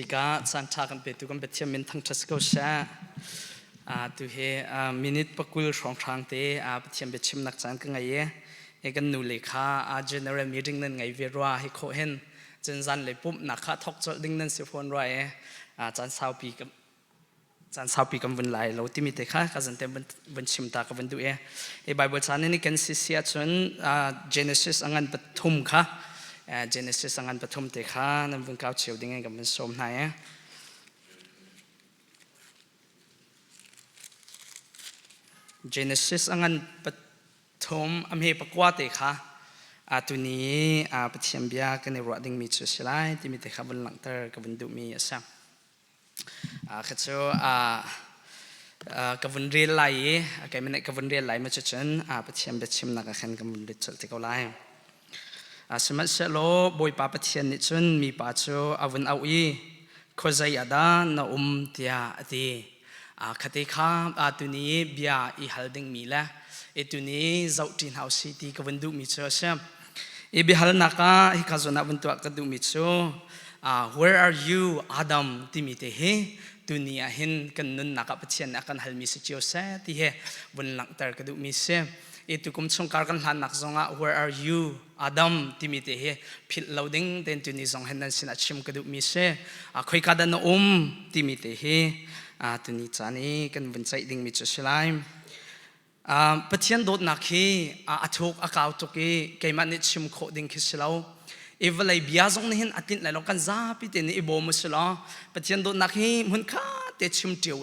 Ka caan ṭha kan petu kan Pathian min thangṭhat si ko sha. tu hi minute pakul hrawnghrang te Pathian biachimnak caan ka ngei i kan nu le kha general meeting nan ngei ve rua hi kho hen cun zan le pumhnak kha thok cawlh ding nan si fawn rua e caan saupi caan saupi kan vun lai lo timi te kha ka zante vun chim ta ka vun duh e e bible chan ni kan si si ahcun genesis angan pathum kha genesis angan pathum te kha nan vun kau cheu ding kan vun som hna e genesis angan pathum amhe pakwa te kha atuni pathian bia kan i ruah dingmi cu si lai timi te kha vun langhter ka vun duhmi a sang kha cu ka vun rel lai i keimah nih ka vun rel lai ma cu cun Pathian biachimnak ah khan ka vun lut colh te ko lai sihmanhsehlaw Bawipa Pathian nih cun mipa cu a vun auh i khuazei ah dah na um tiah a ti khate kha tuni bia i hal dingmi le tuni zoh ṭi hna u sih ti ka vun duhmi cu a si I biahalnak ah hi ka zawn ah vun tuah ka duhmi cu uh, where are you Adam timi te hi tuni ah hin kan nunnak ah Pathian nih a kan halmi si cio seh ti hi vun langhter ka duhmi si i tukum chungkar kan hlannak zong ah where are you Adam timi te hi philh lo ding ten tuni zong hin nan sinah chim ka duhmi si uh, khoika dah na um timi te hi uh, tuni caan i kan vun ceih dingmi cu si lai Pathian dawtnak hi a thuk a kau tuk i keimah nih chim khawh ding khi si lo. I vawlei bia zong nih hin a tlinh lai lo kan zapi te nih i bawm usih law Pathian dawtnak hi hmunkhat te chim cio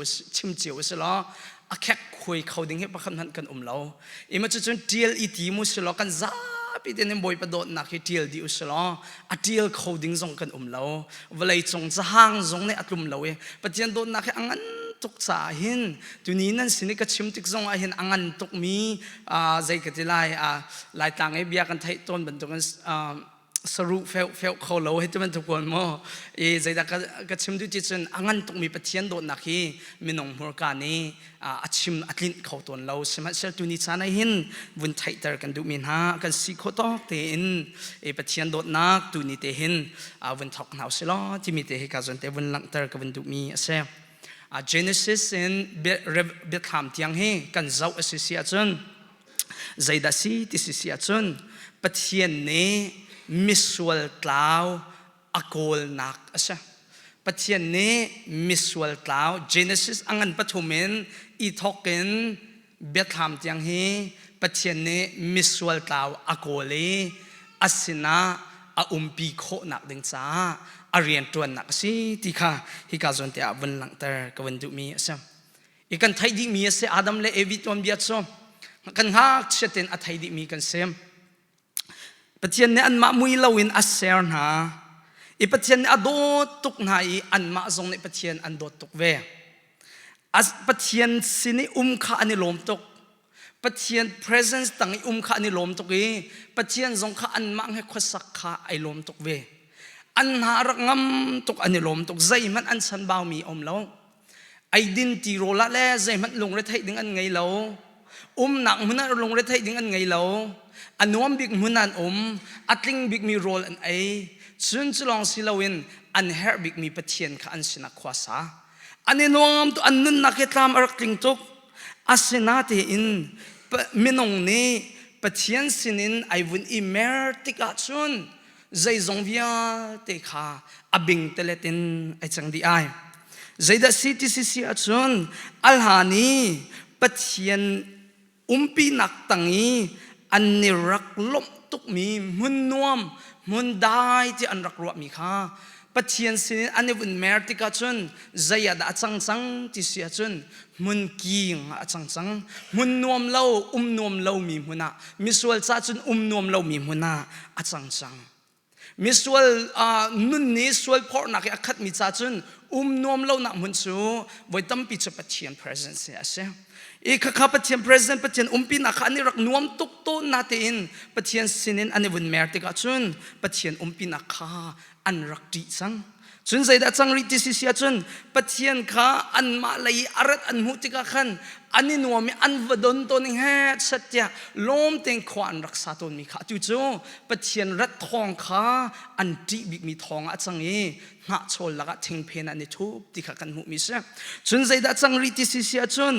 usih law a khek khuai kho ding hi pakhat hmanh kan um lo. Ima cucun ṭial i tim usih law kan zapi te nih Bawipa dawtnak hi ṭial dih usih law a ṭial kho ding zong kan um lo vawlei cung cahang zong nih a tlum lo i Pathian dawtnak hi a ngan tuk caah hin tuni nan sin i ka chim tik zong ah hin a ngan tuk mi zei ka ti lai laitlang i bia kan theih tawn bantukin saru feu feu kho lo hei ti bantuk kuan maw i zeidah ka chim duh ti cun a ngan tukmi Pathian dawtnak hi minung hmurka nih a chim a tlinh kho tawn lo sihmanhsehlaw tuni caan ah hin vun theihter kan duhmi hna kan si khawh tawk tein e Pathian dawtnak tuni te hin vun thawk hna usih law timi te hi ka zon te vun langhter ka vun duhmi a si Genesis in biathlam tiang hi kan zoh a si si ahcun zeidah si ti si si ahcun Pathian nih misual tlau a kawlnak a si. Pathian nih misual tlau Genesis a ngan pathum in i thawk in biathlam tiang hi Pathian nih misual tlau a kawl i a sinah a umpi khawhnak ding caah a rianṭuannak a si ti kha hika zawn tiah vun langhter ka vun duhmi a si. I kan theih dihmi a si Adam le Evi tuanbia cu kan ngakchiat in a thei dihmi kan si. Pathian nih anmah mui loin a ser hna. I Pathian nih a dawt tuk hna i anmah zong nih Pathian an dawt tuk ve. Pathian sin i um kha an i lawm tuk. Pathian presence tang i um kha an i lawm tuk i Pathian zong kha anmah he khuasak kha ai lawm tuk ve. An hna rak ngam tuk an i lawm tuk. Zeihmanh an san baumi a um lo. eidin tirawl ah le zeihmanh lungretheih ding an ngei lo umnak hmun ah lungretheih ding an ngei lo a nuam bik hmun an um a tling bikmi rawl an ei cun cu lawng si loin an herh bikmi pathian kha an sinah khua sa an i nuam tu an nunnak hi tlam a rak tling tuk asinatein minung nih pathian sinin ai vun i mer tikah cun zeizong vialte kha a bing telet in ai cang di ai zeidah CTCC ahcun alhan i pathian umpinak tang i an ni rak lawmh tukmi hmun nuam hmun dai ti an rak ruahmi kha Pathian sin in an i vun mer tikah cun zei ah dah a cang cang ti si ahcun hmun kiing ah a cang cang. Hmun nuam lo, um nuam lomi hmun ah, misual ca cun um nuam lomi hmun ah a cang cang. Misual uh, nun nih sual phorhnak i a khatmi ca cun um nuam lonak hmun cu voi tampi cu Pathian presence hi a si. I khakha Pathian presence Pathian umpinak kha an i rak nuam tuk tawn na tein Pathian sinin an i vun mer tikah cun Pathian umpinak kha an rak ṭih cang. Cun zeidah cang rih ti si ahcun Pathian kha anmah lei i a rat an hmuh tikah khan an i nuam i an va don tawn i hngetset tiah lawm tein khua an rak sa tawnmi kha atu cu Pathian rat thawng kha an ṭih bikmi thawng ah a cang i hnahchawl lakah thingphen ah an i thup ti kha kan hmuhmi si. Cun zeidah cang rih ti si si ahcun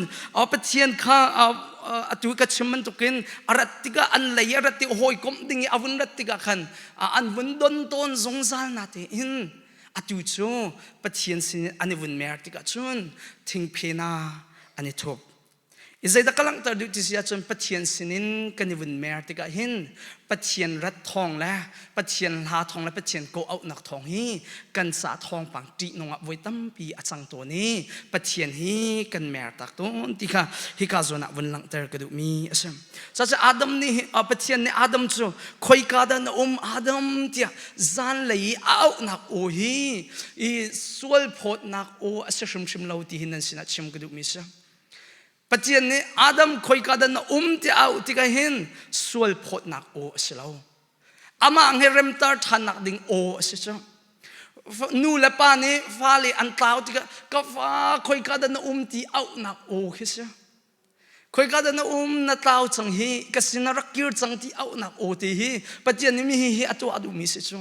Pathian kha atu ka chim bantukin a rat tikah an lei i a rat i hawikomh ding i a vun rat tikah khan an vun don tawn zungzal na tein atu cu Pathian sin an i vun mer tikah cun thingphena an i thup i zeidah ka langhter duh ti si ahcun Pathian sinin kan i vun mer tikah hin Pathian rat thawng le Pathian hla thawng le Pathian ko auhnak thawng hi kan sa thawngpang ṭihnung ah voi tampi a cang tawn i Pathian hi kan mer tak tawn ti kha hika zawn ah vun langhter ka duhmi a si. Saseh Adam nih Pathian nih Adam cu khoika dah na um Adam tiah zanlei i a auhnak aw hi i sual phawtnak aw a si hrimhrim lo ti hi nan sinah chim ka duhmi si. Pathian nih Adam khoika dah na um tiah auh tikah hin sual phawtnak aw a si lo. Amah he remtar ṭhannak ding aw a si cu. Nu le pa nih fale an tlau tikah ka fa khoika dah na um ti auhnak aw khi si. Khoika dan a um na tlau chang hi ka sin a rak kir cang ti auhnak aw te hi Pathian nih mi hi hi a tuah duhmi si cu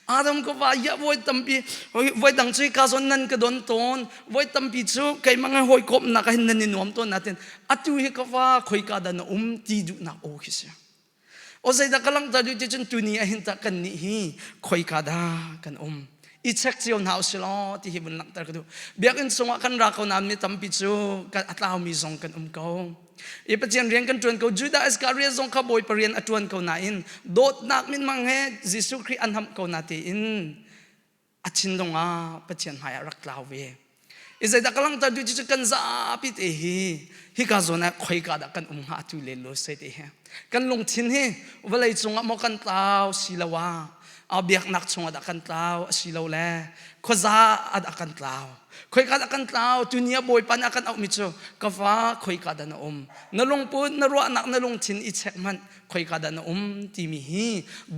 Adam ka va ya voi tampi voi dang cu ka zon nan ka don ton voi tampi cu keimang he hoi kawmnak ah hin nan i nuam ton natin atu hi ka va khoika dan a um ti duhnak aw khi si O zeidah ka langhter duh ti cun tuni ah hin tah kan nih hi khoika dah kan um i check cio hna usih law ti hi vun langhter ka duh biakinn chungah kan ra ko nain mi tampi cu a tlaumi zong kan um ko i pathian rian kan ṭuan ko judah iscariot zong kha bawipa rian a ṭuan ko nain dawtnak minmang he jesuh khrih an hamh ko na tein a thinlung ah Pathian hmai ah rak tlau ve i zeidah ka langhter duh cu kan zapi te hi hika zawn ah khoika dah kan um hnga tu le lo sai te he kan lungthin hi vawlei cung ah maw kan tlau si lo ah a biaknak chung ah dah kan tlau a si lo le khuaza ah dah kan tlau khoika dah kan tlau tu nia bawipa nih a kan auh mi cu ka fa khoika dah na um na lungput na ruahnak na lungthin i check hmanh khoika dah na um timi hi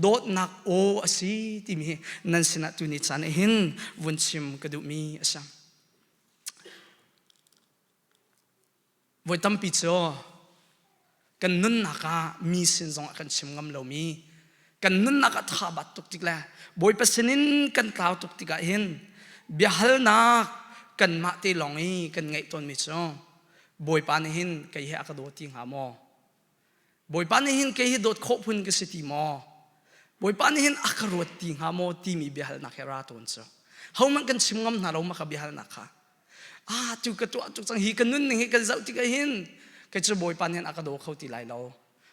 dawtnak aw a si timi hi nan sinah tuni caan ah hin vun chim ka duhmi a si voi tampi cu kan nunnak ah mi sin zong ah kan chim ngam lomi kan nunnak ah tha bat tuk tik le bawipa sinin kan tlau tuk tikah hin biahalnak kan mah te lawng i kan ngaih tawnmi cu bawipa nih hin kei he a ka daw ti hnga maw Bawipa nih hin kei hi dawt khawh phun ka si ti maw? Bawipa nih hin a ka ruat ti hnga maw timi biahalnak he ra tuan cu. Hohmanh kan chim ngam hna lo mah ka biahalnak kha. Ah, cu ka tuah tuk cang hi ka nunning hi kan zoh tikah hin kei cu Bawipa nih a ka daw kho ti lai lo.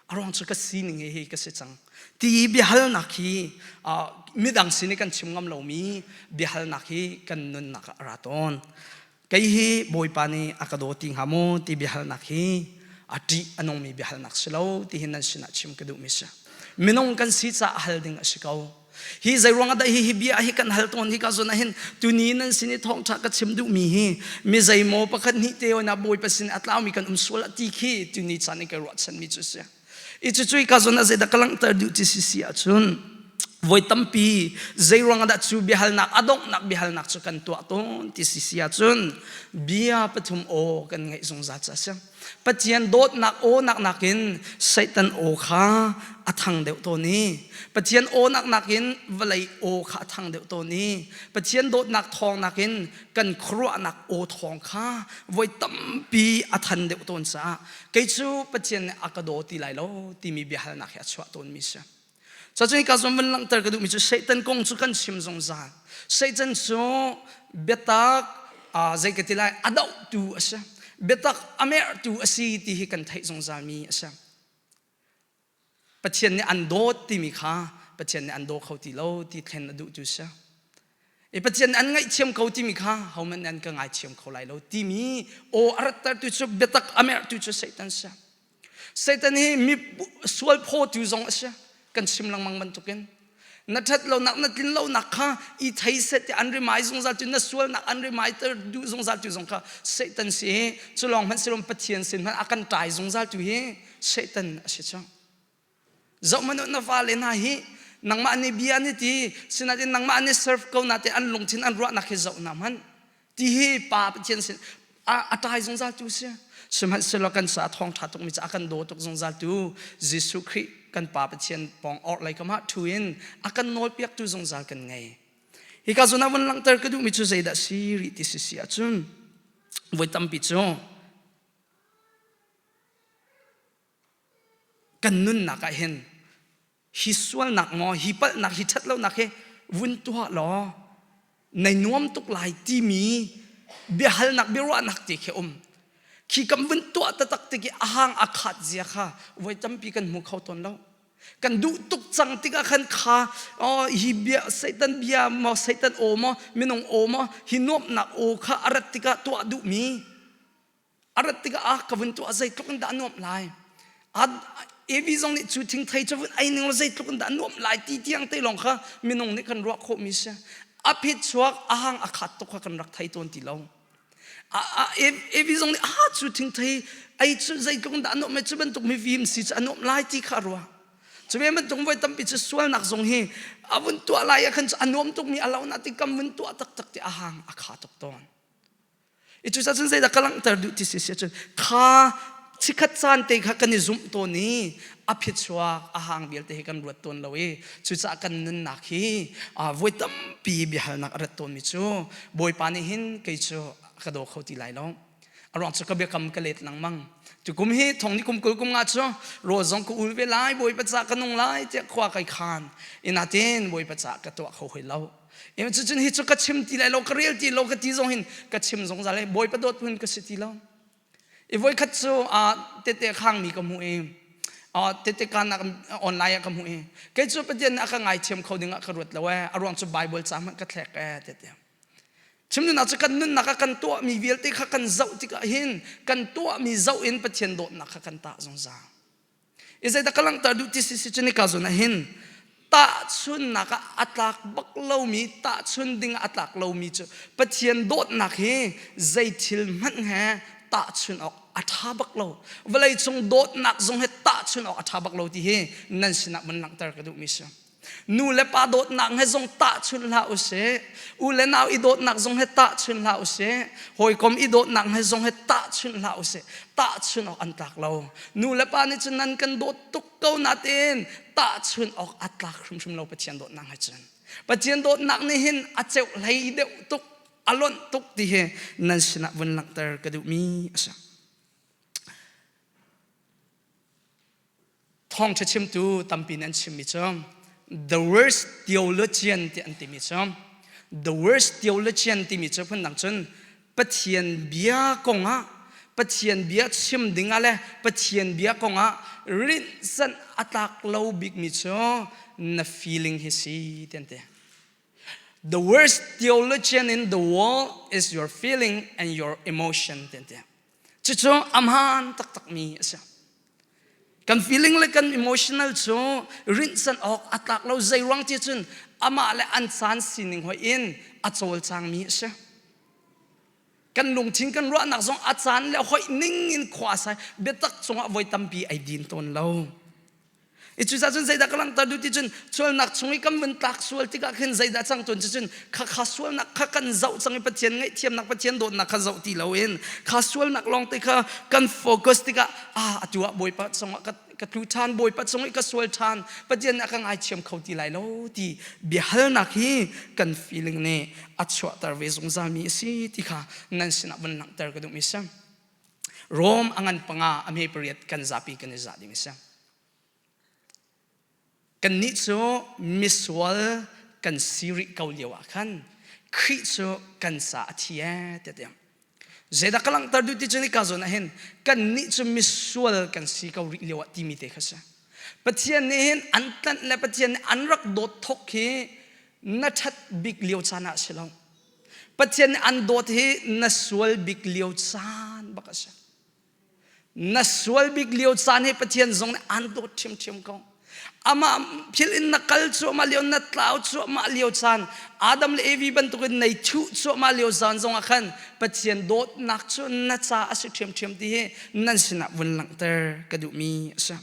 A ruang cu ka sining hi hi ka si cang. Ti biahalnak hi uh, midang sin i kan chim ngam lomi biahalnak hi kan nunnak ah ra tawn. kei hi bawipa nih a ka daw ti hnga maw ti biahalnak hi a ṭih a nungmi biahalnak si lo tihin nan sinah chim ka duhmi si minung kan si caah hal ding a si ko hi zei ruang ah dah hi hi bia hi kan hal tawn hi ka zun ahin tuni nan sin i thawngṭha ka chim duhmi hi mi zei maw pakhat nih te ona bawipa sin a tlaumi kan um sual a ti khi tuni chan i kai ruahchanmi cu si i cucui ka zon a zeidah ka langhter duh ti sisi ahcun voi tampi zei ruang dah cu biahalnak a donghnak biahalnak cu kan tuah tawn ti sisi ahcun bia pathum aw kan ngeih zungzal ca siang pathian dawtnak aw nak nakin satan aw kha a thang deuh tawn i pathian aw nak nakin vawlei aw kha a thang deuh tawn i pathian dawtnak thawng nakin kan khuaruahnak aw thawng kha voi tampi a than deuh tawn caah kei cu Pathian nih a ka daw ti lai lo timi biahalnak hi a chuah tawnmi si. Cacun hika zong van langhter ka duhmi cu Satan kong cu kan chim zungzal. Satan cu biatak zei ka ti lai a dohtu a si. Biatak a merhtu a si ti hi kan theih zungzalmi a si. Pathian nih an dawt timi kha Pathian nih an daw kho ti lo ti thlen a duh cu si. I Pathian nih an ngaihthiam ko timi kha hohmanh nih an ka ngaithiam kho lai lo timi aw a rattertu cu biatak a merhtu cu Satan si. Satan hi mi sual phawtu zong a si. Kan chim lengmang bantukin Na ṭhat lonak, na tlin lonak kha i thei set i an rimai zungzal cu na sualnak an reminder duh zungzal tu zong kha Satan si hi cu lawng hmanh silom Pathian sin hmanh a kan tlai zungzal tu hi Satan a si cang. Zohhmanh na vale hna hi nangmah nih bia ni ti sinain nangmah nih serve ko na te an lungthin an ruahnak hi zoh na hmanh ti hi pa pathian sin a tai zungzal tu si sihmanhsehlaw kan sa thawng ṭha tukmi cu a kan daw tuk zungzal tu Jesuh Khrih kan pa pathian pawng or lei kamah thu in a kan nawlpiaktu zungzal kan ngei hi ka zuna vun langhter ka duhmi cu zeidah si rih ti si si ahcun voi tampi cu kan nunnak ah hin hi sualnak maw hi palhnak hi ṭhatlonak hi vun tuah law nai nuam tuk lai timi biahalnak biaruahnak te khi um khi kan vun tuah taktak ti a hang a khat zia kha voi tampi kan hmu kho tawn lo kan duh tuk cang tikah khan kha oh hi bia satan bia maw satan aw maw minung aw maw hi nuamhnak aw kha a rat tikah tuah duhmi a rat tikah ah ka vun tuah zeitluk in dah nuamh lai a evi zong nih cu thingthei cu vun ei ning law zeitluk in dah nuamh lai ti tiang te lawng kha minung nih kan ruah khawhmi si a phet chuak a hang a khat tuk kha kan rak thei tawn ti lo a a evi zong nih a cu thingthei ei cu zeitluk in dah nuamh mai cu bantuk mifim si cu a nuamh lai ti kha ruah cu ve bantuk voi tampi cu sualnak zong hi a vun tuah lai ah khan cu a nuam tukmi a lo na ti kam vun tuah taktak ti a hang a kha tuk tawn i cu cun zeidah ka langhter duh ti si si cun kha chikhat caan te kha kan i zumh tawn i a phichuak a hang vialte hi kan ruat tawn lo i cucaah kan nunnak hi voi tampi biahalnak a rat tawnmi cu bawipa nih hin kei cu ka daw kho ti lai lo a ruang cu ka biakam ka let lengmang tukum hi thongni kum kul kum nga cu rawl zong ka ul ve lai bawipa ca ka nung lai tiah khua kai khan inatin bawipa ca ka tuah kho hoi lo Im cu cun hi cu ka chim ti lai lo ka rel ti lo ka ti zong hin ka chim zungzal hi bawipa dawt hun ka si ti lo i voi khat cu tete khang mi ka hmu i tete kanak online ah ka hmu i kei cu pathian nih a ka ngaithiam kho ding ah ka ruat lo ee a ruang cu bible ca hmanh ka thlek ee tete chimnunnak cu kan nunnak ah kan tuah mi vialte kha kan zoh tikah hin kan tuah mi zoh in pathian dawtnak kha kan tah zungzal i zeidah ka langhter duh ti si si cun nika zun ah hin tahchunnak ah a tlak bak lomi tahchun ding a tlak lomi cu Pathian dawtnak hi zei thil hmanh he tahchun awk a ṭha bak lo vawleicung dawtnak zong hi tahchun awk a ṭha bak lo ti hi nan sinah man langhter ka duhmi si Nu le pa dawtnak he zong tahchunh hlah usih. U le nau i dawtnak zong he tahchunh hlah usih. Hawikom i dawtnak he zong he tahchunh hlah usih. Tahchunh awk an tlak lo. Nu le pa nih cun nan kan dawt tuk ko nain tahchunh awk a tlak hrimhrim lo Pathian dawtnak he cun. Pathian dawtnak nih hin a ceuh hlei deuh tuk, a lonh tuk ti hi nan sinah vun langhter ka duhmi a si. Thawngṭha chimtu tampi nih an chimmi cu The Worst Theologian tiah an timi cu The Worst Theologian timi cu phundang cun Pathian bia kongah Pathian bia chim ding ah le Pathian bia kongah rinhsanh a tlak lo bikmi cu na feeling hi si ti an ti. The worst theologian in the world is your feeling and your emotion ti an ti. Cucu a hmaan taktakmi a si. Kan feeling le kan emotional cu rinhsan awk a tlak lo zei ruang ti cun amah le an caan sining hoi in a cawlcangmi a si. Kan lungthin kan ruahnak zong a caan le hoi ning in khua sai biatak cungah voi tampi ai din tawn lo. I cucaah cun zeidah ka langhter duh ti cun sualnak chung i kan vun tlak sual tikah khin zeidah cang tuan cun kha kha sualnak kha kan zoh cang i Pathian ngaihthiamnak Pathian dawtnak kha zoh ti loin kha sualnak lawng te kha kan focus tikah ah atu ah Bawipa cungah ka ka tlu ṭhan Bawipa cung i ka sual ṭhan Pathian nih a kan aichiam kho ti lai lo ti biahalnak hi kan feeling nih a chuahter ve zungzalmi a si ti kha nan sinah vun langhter ka duh mi si. Rome a ngan panga a me pariat kan zapi kan i za ding a si. Kan nih cu misual kan si rih ko lio ah khan Khrih cu kan sa a thi e te tiang. Zeidah ka langhter duh ti cu ni ka zon ah hin kan nih cu misual kan si ko rih lio ah timi te kha si. Pathian nih hin an tlanh le Pathian nih an rak dawt thok hi na ṭhat bik lio caan ah si lo. Pathian nih an dawt hi na sual bik lio caan bak a si. Na sual bik lio caan hi Pathian zong nih an dawt ṭhiamṭhiam ko. Amah thil in na kal cuahmah lio, na tlau cuahmah lio caan, Adam le Evi bantukin nei thuh cuahmah lio caan zongah khan Pathian dawtnak cu na ca a si ṭhiamṭhiam ti hi nan sinah vun langhter ka duhmi a si.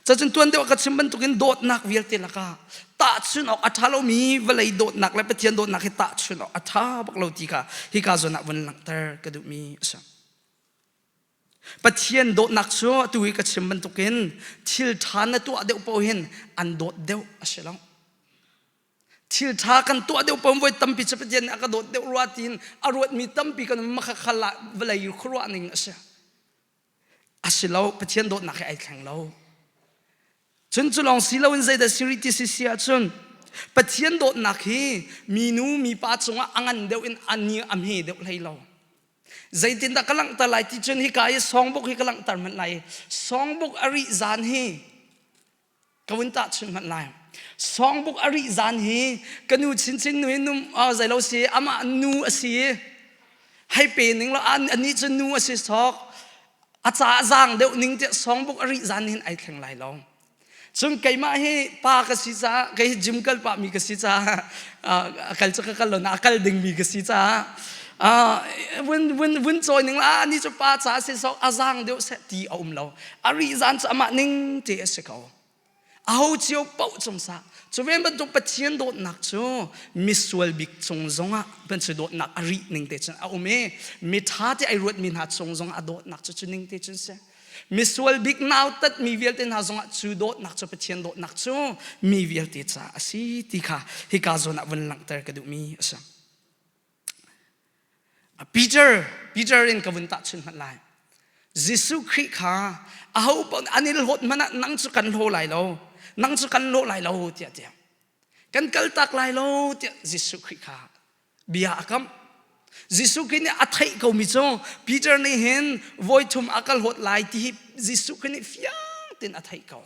Cacun tuan deuh ka chim bantukin dawtnak vialte lakah tahchun awk a ṭha lomi vawlei dawtnak le Pathian dawtnak hi tahchun awk a ṭha bak lo ti kha hi ka zawn ah vun langhter ka duhmi a si. Pathian dawtnak cu atu i ka chim bantukin thil ṭha na tuah deuh paoh hin an dawt deuh a si lo. Thil ṭha kan tuah deuh paoh voi tampi cu Pathian nih a ka dawt deuh rua tiin a ruatmi tampi kan makhakhal ah vawlei khuaruah ning a si. a si lo pathian dawtnak he ai thleng lo cun cu lawng si loin zeidah siri ti si si ahcun pathian dawtnak hi minu mipa cungah a ngan deuh in a ni a hme deuh hlei lo zeitindah ka langhter lai ti cun hika i songbuk hi ka langhter hmanh lai songbuk a rih zan hi ka vun tahchun hmanh lai songbook a rih zan hi ka nu chinchin nu hi nu zei lo si amah nu a si i hei pe ning lo anih cu nu a si sok a ca zaang deuh ning tiah songbook a rih zan hin ai thleng lai lo cun keimah hi pa ka si caah kei hi gym kal pahmi ka si caah kal cu ka kal lo na kal dingmi ka si caah vun vun vun cawi ning la ani cu pa ca si sok a zaang deuh seh ti a um lo a ri zan cu amah ning te a si ko aho cio poh cung sa cu ven bantuk pathian dawtnak cu misual bik cung zongah ban cu dawtnak a ri ning te cun a um i mitha te ai ruat mi hna cung zongah a dawtnak cu cu ning te cun si misual bik nau tat mi vialte hna zongah cu dawtnak cu pathian dawtnak cu mi vialte ca a si ti kha hika zawn ah vun langhter ka duh mi a si Peter in ka vun tahchunh hmanh lai. Jesuh Khrih kha aho an i hlawt hmanh ah nang cu kan hlaw lai lo, nang cu kan hlaw lai lo tiah tiah kan kaltak lai lo tiah Jesuh Khrih kha bia a kam. Jesuh Khrih nih a theih komi cu Peter nih hin voi thum a ka hlawt lai ti hi Jesuh Khrih nih fiang tein a theih ko.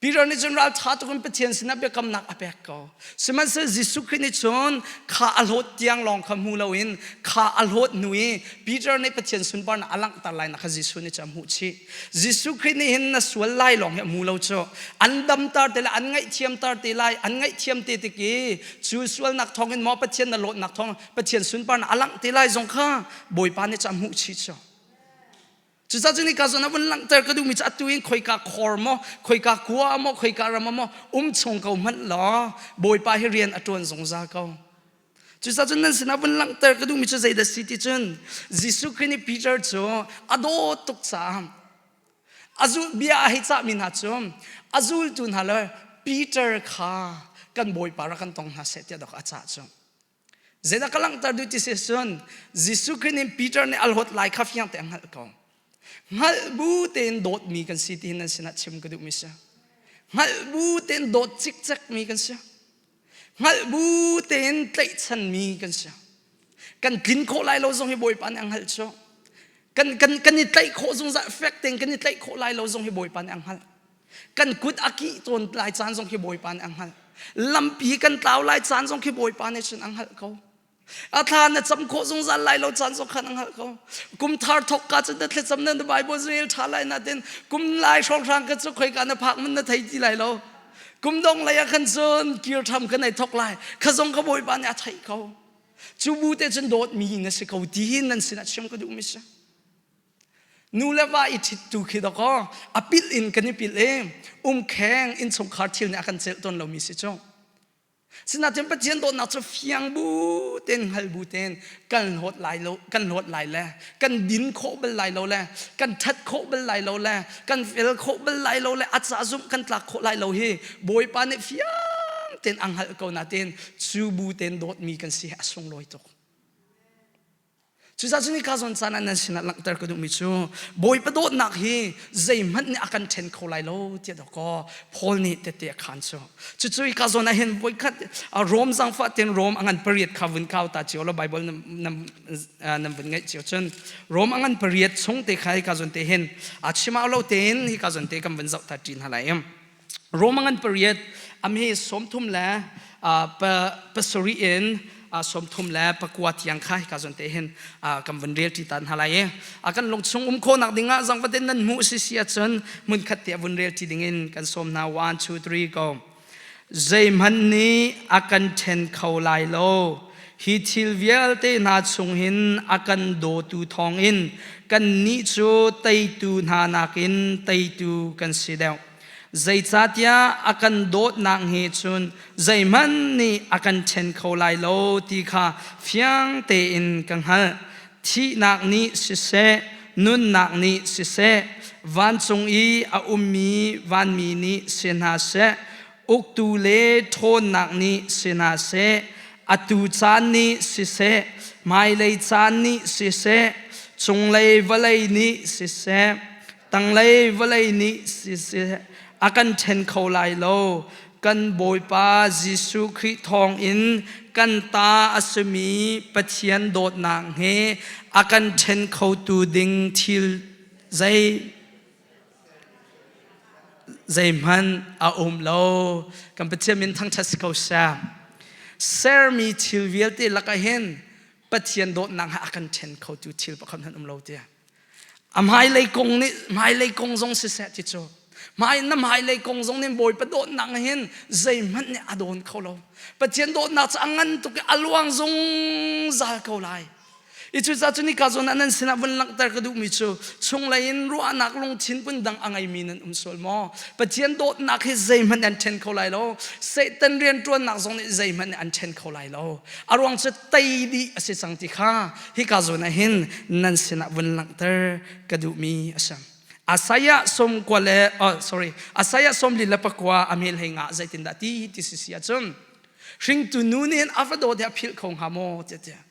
Peter nih cun ralṭha tuk in Pathian sinah biakamnak a pek ko. Sihmanhseh Jesuh Khrih nih cun kha a hlawt tiang lawng kha hmu loin kha a hlawt hnu i Peter nih Pathian sunparnak a langhter lai na kha Jesuh nih cun a hmuh chih. Jesuh Khrih nih hin na sual lai lawng hi a hmu lo cu. An damter te lai, an ngaihthiamter te lai, an ngaihthiam te tik i cu sualnak thawngin maw Pathian na hlawtnak thawng Pathian sunparnak a langh te lai zong kha Bawipa nih cun a hmuh chih cu. Cucah cu nika zon a vun langhter ka duhmi cu atu in khoika khor maw, khoika kua maw, khoika ram maw um chung ko hmanh law Bawipa hi rian a ṭuan zungzal ko. Cucah cun nan sinah vun langhter ka duhmi cu zeidah si ti cun Jesuh Khrih nih Peter cu a dawt tuk caah a zul bia a hei cahmi hna cu a zultu hna le Peter kha kan Bawipa rak kan tong hna seh tiah dok a cah cu. Zeidah ka langhter duh ti si cun Jesuh Khrih nih Peter nih a hlawt lai kha fiang tein hngalh ko. Hngalh bu tein dawtmi kan si tihin nan sinah chim ka duhmi si. Hngalh bu tein dawt cikcekmi kan si. Hngalh bu tein tlaihchanmi kan si. Kan tlin khawh lai lo zong hi Bawipa nih a hngalh cu. Kan, kan, kan i tlaih khawh zungzal fek tein kan i tlaih khawh lai lo zong hi Bawipa nih a hngalh. kan kut a kih tawn lai caan zong khi bawipa nih a hngalh lampi kan tlau lai caan zong khi bawipa nih cun a hngalh ko a thla na cam khawh zungzal lai lo caan zong khan a hngalh ko kum thar thok ka cun na thlacam na bible rel tha lai na tin kum lai hrawng hrang ka cu khoi ka na phak mun na thei ti lai lo kum dong lei ah khan cun kir tham kan ei thok lai kha zong ka bawipa nih a theih ko cu bu te cun dawt mi na si ko ti hin nan sinah chim ka duh mi si Nu le va i ṭhittu khi dakaw a pilh in kan i pilh i umkheng innchungkhar thil nih a kan celh tawn lomi si cu. Sinain Pathian dawtnak cu fiang bu ten hngal bu ten kan hlawt lai lo kan hlawt lai le kan din khawh bal lai lo le kan ṭhat khawh bal lai lo le kan fel khawh bal lai lo le a ca zumh kan tlak khawh lai lo hi Bawipa nih fiang ten a hngalh ko natin cu bu ten dawtmi kan si hi a sunglawi tuk. Cucaah cu ni ka zawn caan ah nan sinah langhter ka duhmi cu Bawipa dawtnak hi zeihmanh nih a kan ṭhen kho lai lo tiah dawkaw Paul nih tete a khaan cu cucu hi ka zawn ah hin voikhat Rom zangfah tein Rom a ngan pariat kha vun kau ta cio law Baibal nan vun ngaih cio cun Rom a ngan pariat chung te kha hi ka zawn te hin a chim lo tein hi ka zawn te kan vun zoh ta ṭi hna lai Roma ngan pariat amhe sawmthum le pasari in sawmthum le pakua tiang kha hika zon te hin kan van rel ti ta hna lai e a kan lung chung um kho nak ding ah zang vaden nan mu si si achun mun khat te vun rel ti ding in kan som na 1 2 3 go zeihman ni akan then kho lai lo hi thil vialte hna chung hin akan do tu thong in kan ni chu teitu hna nakin teitu kan si deuh Zeicatiah a kan dawtnak hi cun zeihmanh nih a kan ṭhen kho lai lo ti kha fiang tein ka hngalh. Thihnak nih siseh, nunnak nih siseh, vancung i a ummi vanmi nih si hna seh, uktu le ṭhawnnak nih si hna seh, atu caan nih siseh, hmailei caan nih siseh, cunglei vawlei nih siseh, tanglei vawlei nih siseh a kan ṭhen kho lai lo kan Bawipa Jesuh Khrih thawngin kan ta a simi Pathian dawtnak he a kan ṭhen khotu ding thil zei zeihmanh a um lo kan Pathian min thangṭhat si ko sah sermi thil vialte lakah hin Pathian dawtnak he a kan ṭhen khotu thil pakhat hmanh um lo tiah A hmailei kong nih hmailei kong zong siseh ti cu hmai na hmailei kong zong nih Bawipa dawtnak hin zeihmanh nih a dawn kho lo Pathian dawtnak cu a ngan tuk i a luang zungzal ko lai i cu cu nika zawn ah nan sinah vun langhter ka duhmi cu chunglei in ruahnak lungthin pun dang a ngeimi nan um sual maw Pathian dawtnak hi zeihmanh an ṭhen kho lai lo Satan rianṭuannak zong nih zeihmanh an ṭhen kho lai lo a ruang cu tei dih a si cang ti kha Hika zawn ah hin nan sinah vun langhter ka duhmi a si. Isaiah sawm kua le oh, sorry, Isaiah sawm li le pakua a mel hei ngah zeitindah ti ti si si ahcun hringtu nu nih hin a va dawh tiah philh kho hnga maw tiah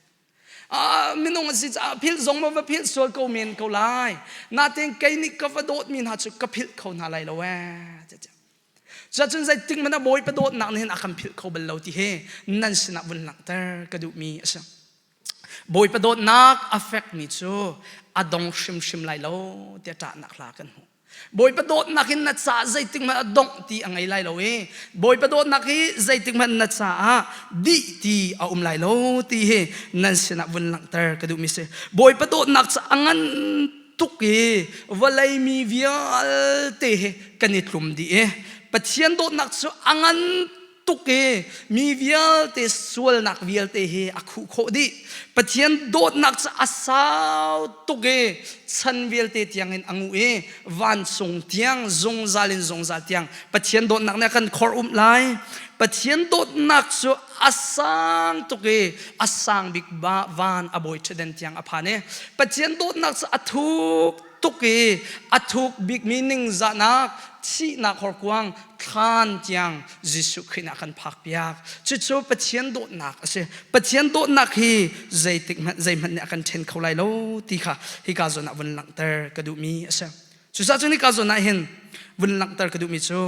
ah minung a si caah philh zong ma va philh sual ko men ko lai natin kei nih ka va dawtmi hna cu ka philh kho hna lai lo ee cuacun zeitik man a bawi pa dawtnak nih hin a kan philh kho bal lo ti hi nan sinah vun langhter ka duhmi a si Bawipa dawtnak a fekmi cu a dong hrimhrim lai lo tiah ṭahnak hla kan hmu. Bawipa dawtnak in na caah zeitik hmanh a dongh ti a ngei lai lo i Bawipa dawtnak hi zeitik hmanh na caah dih ti a um lai lo ti hi nan sinah vun langhter ka duhmi si. Bawipa dawtnak cu a ngan tuk i vawlei mi vialte he kan i tlum dih i Pathian dawtnak cu a ngan tuk i mi vialte sualnak vialte hi a khuh khawh dih pathian dawtnak cu a sau tuk i chan vialte tiangin a nguh i vancung tiang zungzal in zungzal tiang pathian dawtnak nih a kan khor um lai pathian dawtnak cu a sang tuk i a sang bik van a bawi ṭhaden tiang a phan i pathian dawtnak cu a thuk tuk i a thuk bikmi ningzahnak thihnak horkuang thlan tiang Jesuh Khrih nih a kan phakpiak cucu Pathian dawtnak a si Pathian dawtnak hi zeitik hmanh zeihmanh nih a kan ṭhen kho lai lo ti kha hi ka zawn ah vun langhter ka duhmi a si cucaah cu ni ka zawn ah hin vun langhter ka duhmi cu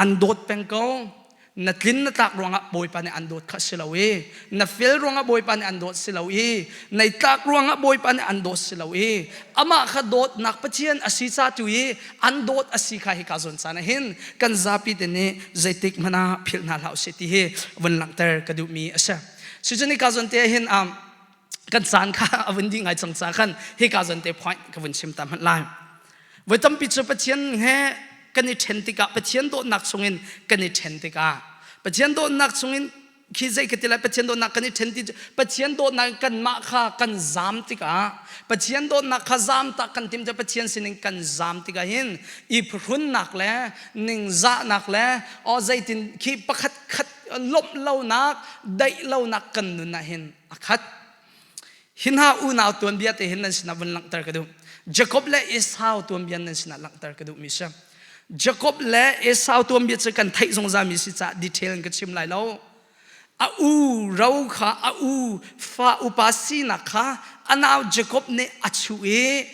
an dawt peng ko na tlin na tlak ruangah bawipa nih an dawt kha si lo i na fel ruangah bawipa nih an dawt si lo i na tlak ruangah bawipa nih an dawt si lo i amah kha dawtnak pathian a si ca tu i an dawt a si kha hi ka zawn caan hin kan zapi te nih zeitik hmana philh hna hlah usih ti hi vun langhter ka duhmi a si cucun hi ka zawn te hin um, kan caan kha a vun dih ngai cang ca khan hika zan te point ka vun chim ta hmat lai voi tampi cu pathian he kan i ṭhen tikah pathian dawtnak chungin kan i ṭhen tikah pathian dawtnak chungin khi zei ka ti lai pathian dawtnak kan i ṭhen ti pathian dawtnak in kanmah kha kan zam tikah pathian dawtnak kha zam tak kan tim te pathian sinin kan zam tikah hin i phuhrunnak le ningzahnak le o zeitin khi pakhat khat lawmh lonak daih lonak kan nun ah hin a khat hin ha unau tuanbia te hin nan sinah vun langhter ka duh Jacob le Esau tuanbia nan sinah langhter ka duh mi si Jacob le Esau tuanbia cu kan theih zungzal mi si cah detail in ka chim lai lo a u ro kha a u fa upa sinak kha a nau Jacob nih a chuh i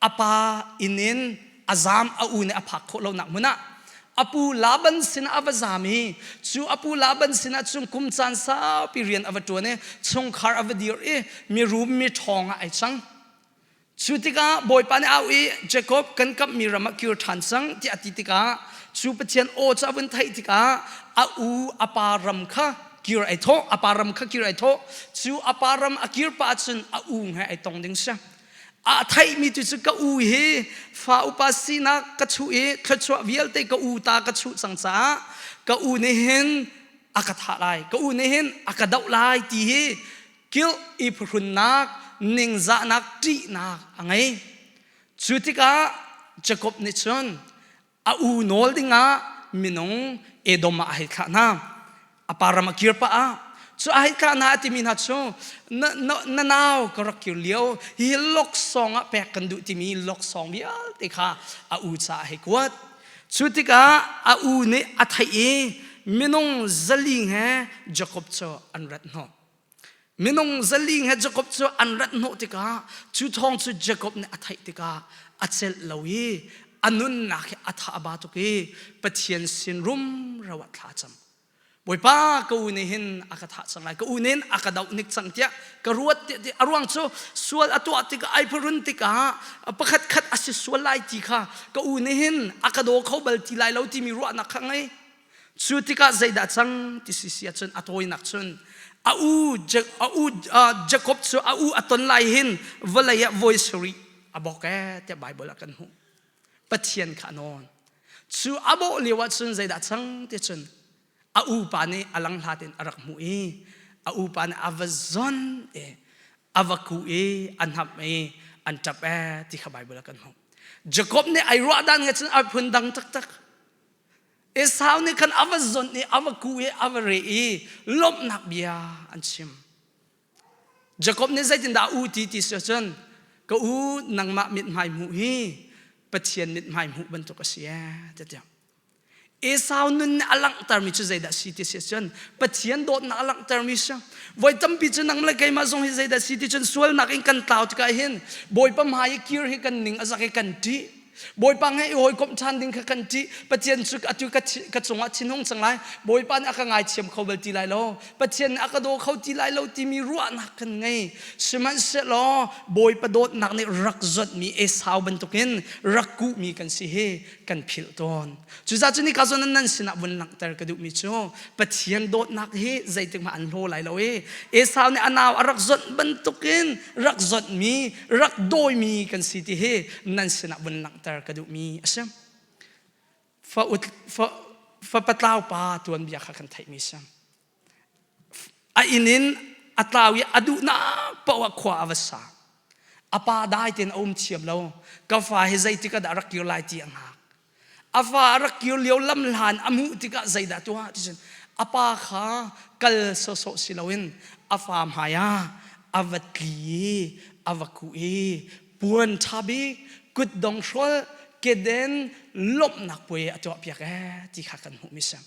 a pa inn in a zaam a u nih a phak khawh lonak hmun ah a pu Laban sinah a va zaam i cu a pu Laban sinah cun kum caan saupi rian a va ṭuan i chungkhar a va dir i mirum mi ṭhawng ah ai cang cu tikah bawipa nih au i Jacob kan kamhmi ram ah kir ṭhan cang tiah a ti tikah cu Pathian aw cu a vun theih tikah a u a pa ram kha kir ai thawh a pa ram kha kir ai thawh cu a pa ram a kir pah ahcun a u he ai tong ding si a theihmi cu cu ka u hi fa upa sinak ka chuh i thluachuah vialte ka u ta ka chuh cang caah ka u nih hin a ka thah lai ka u nih hin a ka doh lai ti hi kilh i phuhrunnak ningzahnak ṭihnak a ngei cu tikah Jakob nih cun a u nawl dingah minung edom ah a hei thlah hna a param a kir pah ah cu a hei kah na timi hna cu na, na, na nau ka rak kir lio hi loksong ah pek kan duh timi loksong vialte kha a u ca a hei kuat cu tikah a u nih a theih i minung zaling he jakob cu an rat hnawh Minung zaling he Jacob cu an rat hnawh tikah cu thawng cu Jacob nih a theih tikah a celh lo i a nunnak hi a tha ba tuk i Pathian sin rum ro ah thla cam. Bawipa ka u nih hin a ka thah cang lai ka u nih a ka doh nik cang tiah ka ruat tiah a ruang cu sual a tuah tikah ai phurun tikah pakhat khat a si sual lai ti kha ka u nih hin a ka daw kho bal ti lai lo timi ruahnak kha ngei Cu tikah zeidah cang ti si si ahcun a tawinak cun a u a u Jacob cu a u a ton lai hin vawlei ah voi sarih a bawk ee tiah Baibal ah kan hmuh Pathian kha a nawn cu a bawh lio ahcun zeidah cang ti cun a upa nih a lang hlatin a rak hmuh i a upa nih a va zon e a va ku i a hnap i an ṭap e ti kha Baibal ah kan hmuh Jacob nih ai ruah dan ngacun a phun dang taktak Esau nih khan a va zonh i a va kuh i a va re i lawmhnak bia an chim. Jakob nih zeitindah a u ti ti si cun ka u nangmah mithmai hmuh hi Pathian mithmai hmuh bantuk a si ee tiah. Esau nun a langhtermi cu zeidah si ti si cun Pathian dawtnak a langhtermi si. Voi tampi cu nang le keimah zong hi zeidah si ti cun sualnak in kan tlau tikah hin Bawipa hmai i kir hi kan ning a zak i kan ṭih. Bawipa nge i hawikomh ṭhan ding kha kan ṭih. Pathian cu atu ka cungah thinhung cang lai. Bawipa nih a ka ngaithiam kho bal ti lai lo. Pathian nih a ka daw kho ti lai lo timi ruahnak kan ngei. Sihmanhsehlaw Bawipa dawtnak nih rak zotmi Esau bantukin rak kuhmi kan si hi kan philh tawn. Cucaah cu nika zon nan sinah vun langhter ka duhmi cu Pathian dawtnak hi zeitikmah an hlaw lai lo i Esau nih a nau a rak zonh bantukin rak zotmi rak dawimi kan si ti hi nan sinah vun langhter ka duhmi a si fa ut fa fa patlau pa tuan bia kha kan theihmi si a inn in a tlau i a duhnak paoh ah khua a va sa a pa dai tein a um thiam lo ka fa hi zeitik ah dah rak kir lai ti a ngak A va a rak kir lio lam hlan a hmuh tikah zeidah tuah ticun a pa kha kal sawsawh si loin a fa hmaiah a va tli i a va kuh i puan ṭha bik kutdong hrawlh keden lawmhnak puai a tuahpiak ee ti kha kan hmuh mi si.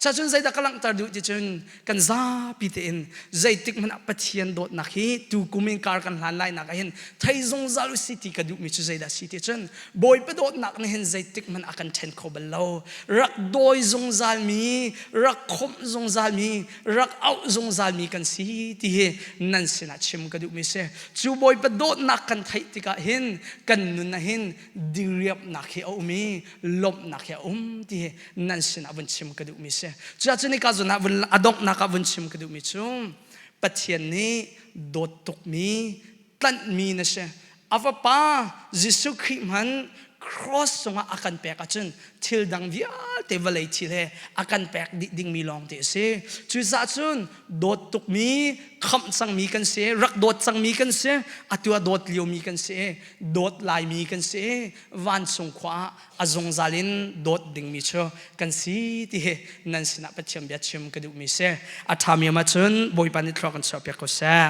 Cacun zeidah ka langhter duh ticun kan zapi tein zeitik hmanh ah Pathian dawtnak hi tukum in kar kan hlan lai nak ah hin thei zungzal usi ti ka duhmi cu zeidah si ticun Bawipa dawtnak nih hin zeitik hmanh ah kan ṭhen kho bal lo. Rak dawi zungzalmi, rak khawmh zungzalmi, rak auh zungzalmi kan si ti hi nan sinah chim ka duhmi si. Cu Bawipa dawtnak kan theih tikah hin kan nun ah hin diriamhnak hi a um i lawmhnak hi a um ti hi nan sinah vun chim ka duhmi si cuah cu nika zun ah vun a donghnak ah vun chim ka duhmi cu Pathian nih dawt tukmi tlanhmi na si a fapa Jesuh Khrih hmanh cross cungah a kan pek ahcun thil dang vialte vawlei thil he a kan pek dih dingmi lawng te a si cucaah cun dawt tukmi khamh cangmi kan si rak dawt cangmi kan si atu ah dawt liomi kan si dawt laimi kan si vancung khua ah a zungzal in dawt dingmi cu kan si ti hi nan sinah Pathian bia chim ka duhmi si a ṭhami am ahcun Bawipa nih thluak kan chuahpiak ko seh